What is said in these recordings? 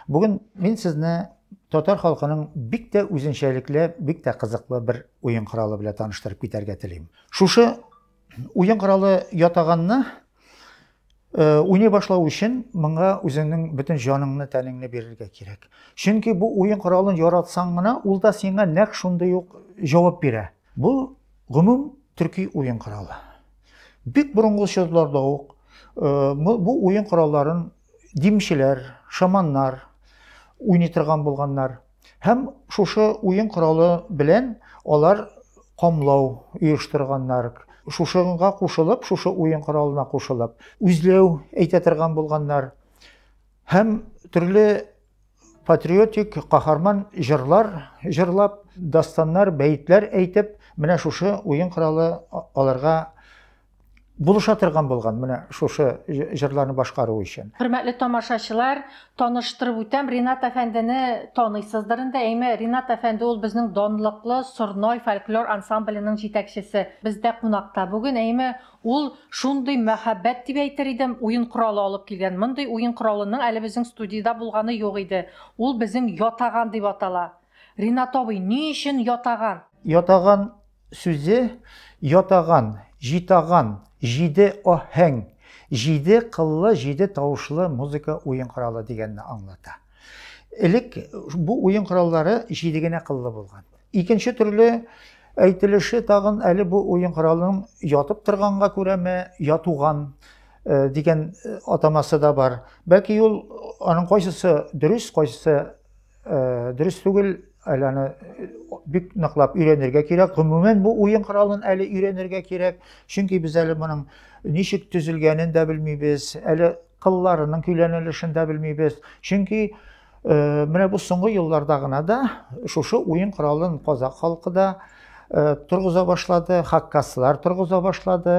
Бүген мин сезне татар халкының бик тә үзенчәлекле, бик тә кызыклы бер уен коралы белән таныштырып китәргә телим. Шушы уен коралы ятаганны э, уйный башлау өчен моңа үзеңнең бөтен җаныңны, тәнеңне бирергә кирәк. Чөнки бу уен коралын яратсаң гына, ул да сиңа нәкъ шундый ук җавап бирә. Бу гомум төрки уен коралы. Бик борынгы чорларда ук э, бу уен коралларын димчеләр, шаманнар уйный торган булганнар. Һәм шушы уен коралы белән алар камлау оештырганнар. Шушыга кушылып, шушы уен коралына кушылып, үзләү әйтә торган булганнар. Һәм төрле патриотик каһарман җырлар җырлап, дастаннар, бәетләр әйтеп, менә шушы уен коралы аларга булыша торган булган менә шушы җырларны башкару өчен. Хөрмәтле тамашачылар, таныштырып үтәм, Ринат әфәндене таныйсыздыр инде. Әйме, Ринат әфәнде ул безнең данлыклы Сорной фольклор ансамбленең җитәкчесе. Бездә кунакта бүген, әйме, Ул шундый мәхәббәт дип әйтер идем, уен коралы алып килгән. Мондый уен коралының әле безнең студиядә булганы юк иде. Ул безнең ятаган дип атала. Ринат абый, ни өчен ятаган? Ятаган сүзе ятаган, җитаган, җиде аһәң, җиде кыллы, җиде тавышлы музыка уен коралы дигәнне аңлата. Элек бу уен кораллары җиде генә кыллы булган. Икенче төрле әйтелеше тагын әле бу уен коралының ятып торганга күрәме, ятуган э, дигән э, атамасы да бар. Бәлки ул аның кайсысы дөрес, кайсысы э, дөрес түгел, әле аны бик ныклап өйрәнергә кирәк. Гомумән бу уен коралын әле өйрәнергә кирәк, чөнки без әле моның ничек төзелгәнен дә белмибез, әле кылларының көйләнелешен дә белмибез. Чөнки Э, менә бу соңгы елларда гына да шушы уен коралын казак халкы да э, торгыза башлады хаккаслар торгыза башлады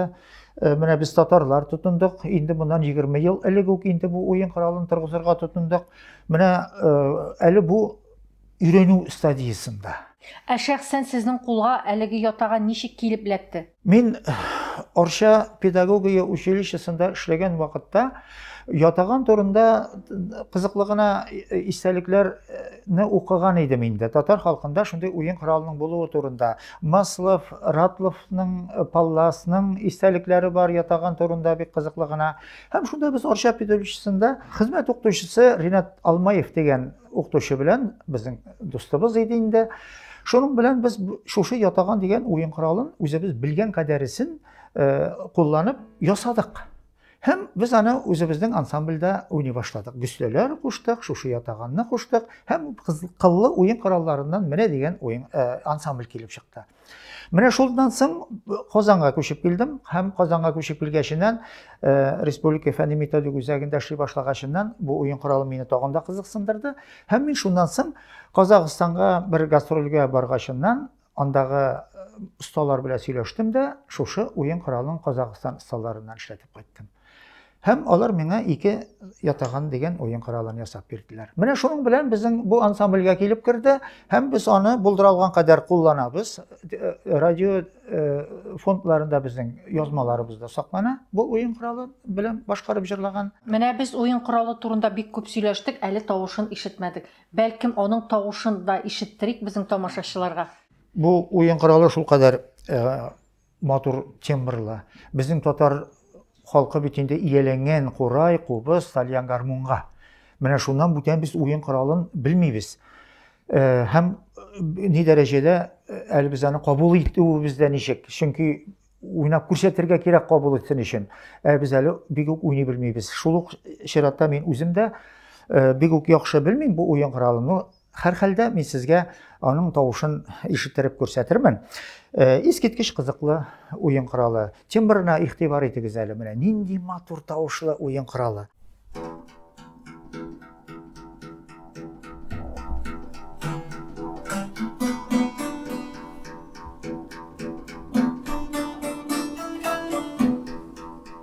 э, менә без татарлар тотындык инде моннан 20 ел элек үк инде бу уен коралын торгызырга тотындык менә әле бу өйрәнү стадиясендә ә шәхсән сезнең кулга әлеге ятага ничек килеп эләкте Мин Арча педагогия училищесында эшләгән вакытта ятаган турында кызыклы гына истәлекләрне укыган идем инде. Татар халкында шундый уен коралының булуы турында. Маслов, Ратловның, Палласның истәлекләре бар ятаган турында бик кызыклы гына. Һәм шунда без Арча педагогическисында хезмәт укытучысы Ринат Алмаев дигән Укытучы белән безнең дустыбыз иде инде. Шуның белән без шушы ятаган дигән уен коралын үзебез белгән кадәресен э, кулланып ясадык. Һәм без аны үзебезнең ансамбльдә уйный башладык. Гөсләләр куштык, шушы ятаганны куштык һәм кыллы уен коралларыннан менә дигән уен э, ансамбль килеп чыкты. Менә шулдан соң Казанга күчеп килдем һәм Казанга күчеп килгәченнән э, республика фәнни методик үзәгендә эшли башлагачыннан бу уен коралы мине тагын да кызыксындырды һәм мин шуннан соң Казахстанга бер гастрольгә баргачыннан андагы э, осталар белән сөйләштем дә шушы уен коралын Казахстан осталарыннан эшләтеп кайттым. Һәм алар миңа ике ятаган дигән уен коралын ясап бирделәр. Менә шуның белән безнең бу ансамбльгә килеп керде һәм без аны булдыралган кадәр кулланабыз. Э, радио э, фондларында безнең язмаларыбызда саклана бу уен коралы белән башкарып җырлаган. Менә без уен коралы турында бик күп сөйләштек, әле тавышын ишетмәдек. Бәлкем аның тавышын да ишеттерик безнең тамашачыларга. Бу уен коралы шулкадәр э, Матур тембрлы. Безнең татар халкы бит инде ияләнгән курай, кубыз, тальян гармунга. Менә шуннан бүтән без уен коралын белмибез. Э, һәм э, ни дәрәҗәдә э, әле без аны кабул итүебез дә ничек? Чөнки уйнап күрсәтергә кирәк кабул итсен өчен. Ә без әле бик үк уйный белмибез. Шул ук чиратта мин үзем дә бик үк яхшы белмим бу уен коралын. Һәрхәлдә, мин сезгә аның тавышын ишеттереп күрсәтермен. Э, искиткеч кызыклы уен коралы. Тимбрына игътибар итегез әле менә. Нинди матур тавышлы уен коралы.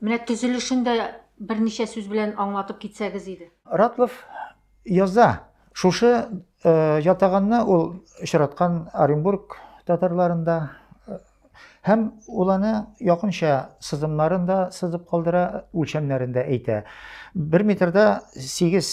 Менә төзелешен дә берничә сүз белән аңлатып китсәгез иде. Ратлов яза. Шушы ятаганны ул очраткан Оренбург татарларында һәм ул аны якынча сызымнарын да сызып калдыра, үлчәмнәрен дә әйтә. Бер метрда 8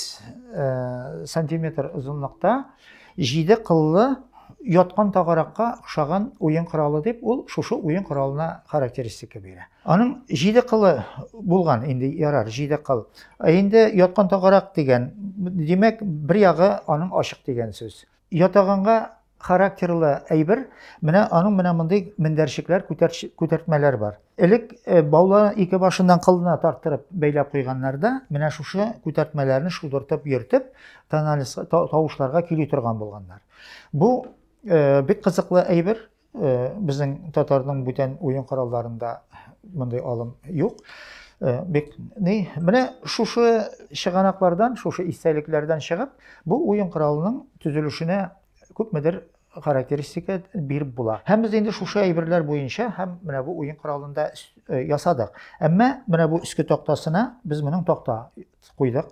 сантиметр озынлыкта Җиде кыллы яткан тагаракка охшаган уен коралы дип ул шушы уен коралына характеристика бирә. Аның җиде кылы булган инде ярар, җиде кыл. Ә инде яткан тагарак дигән, димәк, бер ягы аның ачык дигән сүз. Ятаганга характерлы әйбер, менә аның менә мондый мендәрчекләр, күтәрт, күтәртмәләр бар. Элек э, баулы ике башыннан кылына тарттырып бәйләп куйганнар да, менә шушы күтәртмәләрне шудыртып йөртеп, тоналис тавышларга кили торган булганнар. Бу э, бик кызыклы әйбер. Э, безнең татарның бүтән уен коралларында мондый алым юк. Э, бик ни, менә шушы чыганаклардан, шушы истәлекләрдән чыгып, бу уен коралының төзелешенә күпмедер характеристика биреп була. Һәм без инде шушы әйберләр буенча һәм менә бу уен коралында э, ясадык. Әмма менә бу өске тактасына без моның такта куйдык.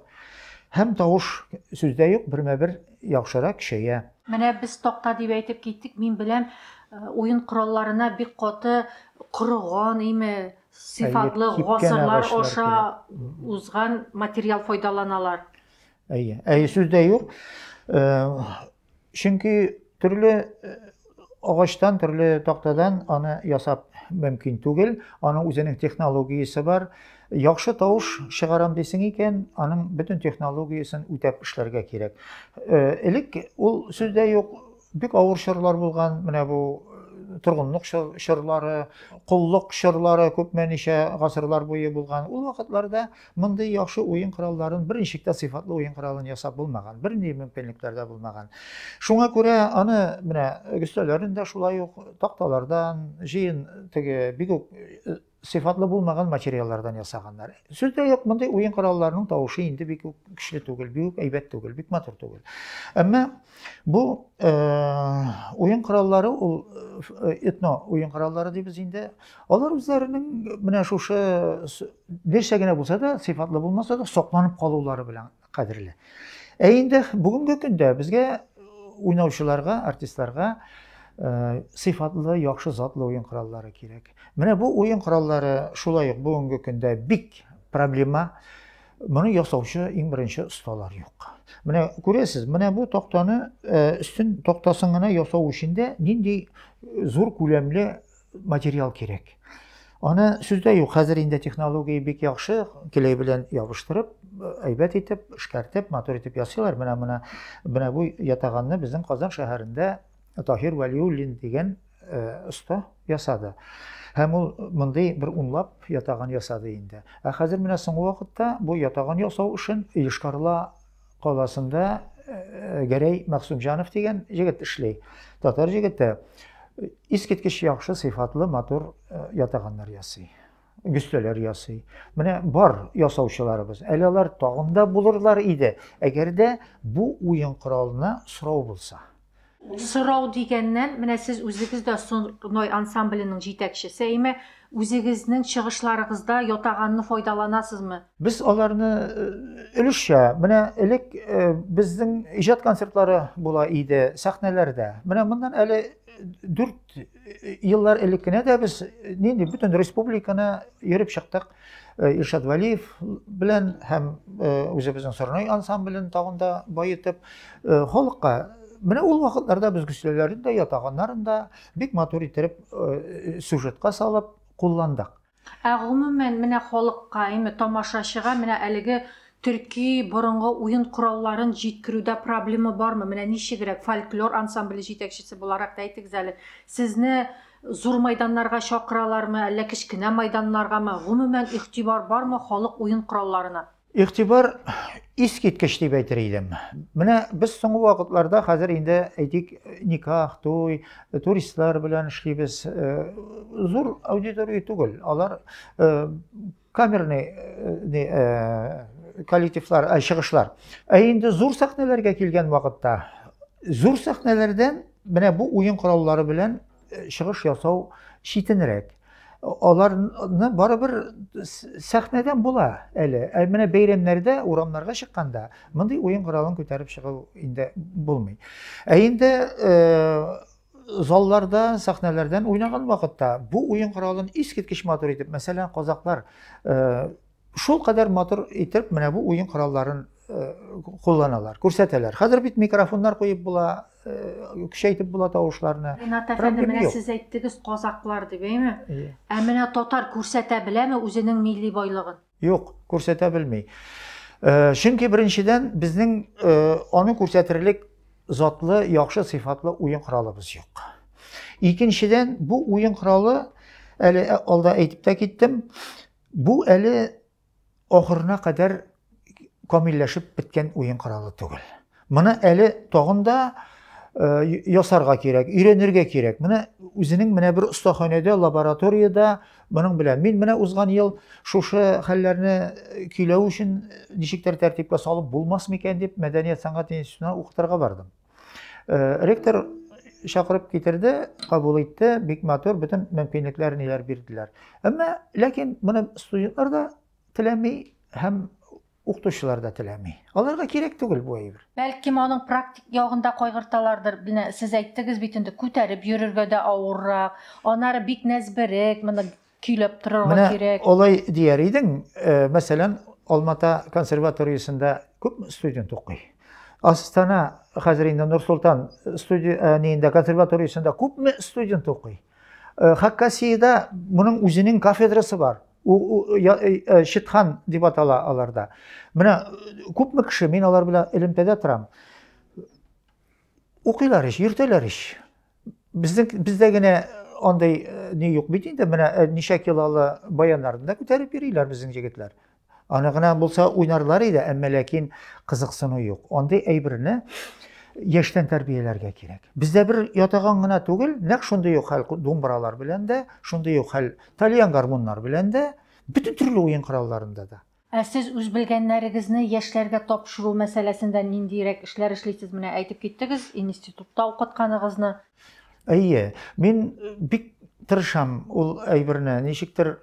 Һәм тавыш сүздә юк, бермә-бер яхшырак көчәя. Менә без такта дип әйтеп киттек, мин беләм, э, уен коралларына бик каты корыган име, сыйфатлы гасырлар аша узган материал файдаланалар. Әйе, әйе сүздә юк. Э, Чөнки төрле агачтан, төрле тактадан аны ясап мөмкин түгел. Аның үзенең технологиясе бар. Яхшы тавыш чыгарам дисең икән, аның бөтен технологиясен үтәп эшләргә кирәк. Элек ул сүздә юк, бик авыр чорлар булган, менә бу торгынлык чорлары, коллык чорлары күпмәничә гасырлар буе булган. Ул вакытларда Мондый яхшы уен коралларын берничек тә сыйфатлы уен коралын ясап булмаган, бернинди мөмкинлекләр дә булмаган. Шуңа күрә аны менә өстәлләрен дә шулай ук такталардан, җыен теге бик үк э, сыйфатлы булмаган материаллардан ясаганнар. Сүз дә юк, мондый уен коралларының тавышы инде бик үк көчле түгел, бик үк әйбәт түгел, бик матур түгел. Әмма бу э, уен кораллары ул э, этно уен кораллары дибез инде. Э, Алар үзләренең менә шушы берчә генә булса да, сыйфатлы булмаса да, сокланып калулары белән кадерле. Ә инде бүгенге көндә безгә уйнаучыларга, артистларга э, сыйфатлы, яхшы затлы уен кораллары кирәк. Менә бу уен кораллары шулай ук бүгенге көндә бик проблема. Моны ясаучы иң беренче осталар юк. Менә күрәсез, менә бу тактаны э, өстен тактасын гына ясау өчен дә нинди зур күләмле материал кирәк. Аны сүздә юк, хәзер инде технология бик яхшы, клей белән ябыштырып, әйбәт итеп, эшкәртеп, матур итеп ясыйлар. Менә менә менә бу ятаганны безнең Казан шәһәрендә Таһир Вәлиуллин дигән оста ясады. Һәм ул мондый бер унлап ятаган ясады инде. Ә хәзер менә соңгы вакытта бу ятаган ясау өчен Йошкарла каласында Гәрәй Максумҗанов дигән җегет эшли. Татар җегете искиткеч яхшы сыйфатлы матур ятаганнар ясый. Гөстәләр ясый. Менә бар ясаучыларыбыз. Әле алар тагында булырлар иде, әгәр дә бу уен коралына сорау булса. Сорау дигәннән, менә сез үзегез дә Сорной ансамбленең җитәкчесе, әйме, үзегезнең чыгышларыгызда ятаганны файдаланасызмы? Без аларны өлешчә, менә элек безнең иҗат концертлары була иде сәхнәләрдә. Менә моннан әле дүрт еллар элек кенә дә без нинди бөтен республиканы йөреп чыктык. Э, Иршат Валиев белән һәм э, үзебезнең Сорнай ансамблен тагын да баетып, э, халыкка менә ул вакытларда без гөсләләрен дә, ятаганнарын да бик матур итеп сюжетка салып кулландык. Ә гомумән менә халыкка, әйме тамашачыга менә әлеге төрки борынгы уен коралларын җиткерүдә проблема бармы? Менә ничегрәк фольклор ансамбле җитәкчесе буларак та әйтегез әле. Сезне Зур майданнарга чакыралармы, әллә кечкенә майданнаргамы, гомумән игътибар бармы халык уен коралларына? Игътибар искиткеч дип әйтер идем. Менә без соңгы вакытларда хәзер инде әйтик никах, туй, туристлар белән эшлибез. Зур аудитория түгел, алар камерный э, не, э, коллективлар, ә, чыгышлар. Ә инде зур сәхнәләргә килгән вакытта, зур сәхнәләрдән менә бу уен кораллары белән э, чыгыш ясау читенрәк. Аларны барыбер сәхнәдән була әле. Ә менә бәйрәмнәрдә, урамнарга чыкканда, мондый уен коралын күтәреп чыгу инде булмый. Ә инде э, заллардан, сәхнәләрдән уйнаган вакытта бу уен коралын искиткеч матур итеп, мәсәлән, казаклар э, шул кадәр матур итеп менә бу уен коралларын э, кулланалар, күрсәтәләр. Хәзер бит микрофоннар куеп була, э, көчәйтеп була тавышларны. Ринат әфәнде, менә сез әйттегез казаклар дип, әйме? Ә менә татар күрсәтә беләме үзенең милли байлыгын? Юк, күрсәтә белми. Э, чөнки беренчедән безнең э, аны күрсәтерлек затлы, яхшы сыйфатлы уен коралыбыз юк. Икенчедән, бу уен коралы әле э, алда әйтеп тә киттем, бу әле ахырына кадәр камилләшеп беткән уен коралы түгел. Моны әле тагын да ясарга кирәк, өйрәнергә кирәк. Менә үзенең менә бер остаханәдә, лабораториядә моның белән. Мин менә узган ел шушы хәлләрне көйләү өчен ничектер тәртипкә салып булмас микән дип мәдәният сәнгать институтына укытырга бардым. Ректор чакырып китерде, кабул итте, бик матур, бөтен мөмкинлекләр ниләр бирделәр. Әмма ләкин моны студентлар да теләми һәм Укытучылар да теләми. Аларга кирәк түгел бу әйбер. Бәлкем аның практик ягын да кайгырталардыр. Менә сез әйттегез бит инде, күтәреп йөрергә дә авыррак, анары бик нәзберек, моны көйләп торырга кирәк. Менә алай дияр идең, мәсәлән, Алмата консерваториясендә күп студент укый. Астана хәзер инде Нурсултан студия э, нинде консерваториясендә күпме студент укый. Э, Хакасиядә моның үзенең кафедрасы бар. Чытхан дип атала аларда. Менә күпме кеше, мин алар белән элемтәдә торам. Укыйлар ич, йөртәләр ич. Безнең бездә генә андый ни юк бит инде. Менә ничә килолы баяннарны да күтәреп йөриләр безнең җегетләр. Аны гына булса уйнарлар иде, әмма ләкин кызыксыну юк. Андый әйберне яшьтән тәрбияләргә кирәк. Бездә бер ятаган гына түгел, нәкъ шундый ук хәл думбралар белән дә, шундый ук хәл Тальян гармуннар белән дә, бөтен төрле уен коралларында да. Ә сез үз белгәннәрегезне яшьләргә тапшыру мәсьәләсендә ниндиерәк эшләр эшлисез? Менә әйтеп киттегез, институтта укытканыгызны. Әйе, мин бик тырышам ул әйберне. Ничектер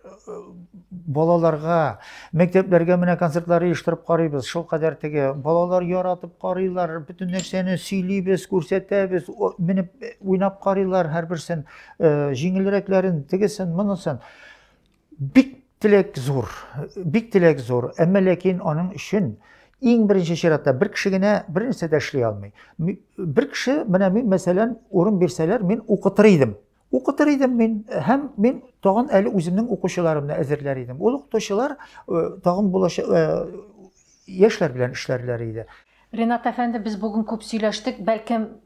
балаларга, мәктәпләргә менә концертлар оештырып карыйбыз. Шулкадәр теге балалар яратып карыйлар, бөтен нәрсәне сөйлибез, күрсәтәбез, менеп уйнап карыйлар һәрберсен. Э, җиңелрәкләрен тегесен монысын бик теләк зур бик теләк зур әмма ләкин аның өчен иң беренче чиратта бер кеше генә бер нәрсә дә эшли алмый бер кеше менә мин мәсәлән урын бирсәләр мин укытыр идем укытыр идем мин һәм мин тагын әле үземнең укучыларымны әзерләр идем ул укытучылар э, тагын булачак э, яшьләр белән эшләрләр иде Ренат әфәнде, без бүген күп сөйләштек. Бәлкем,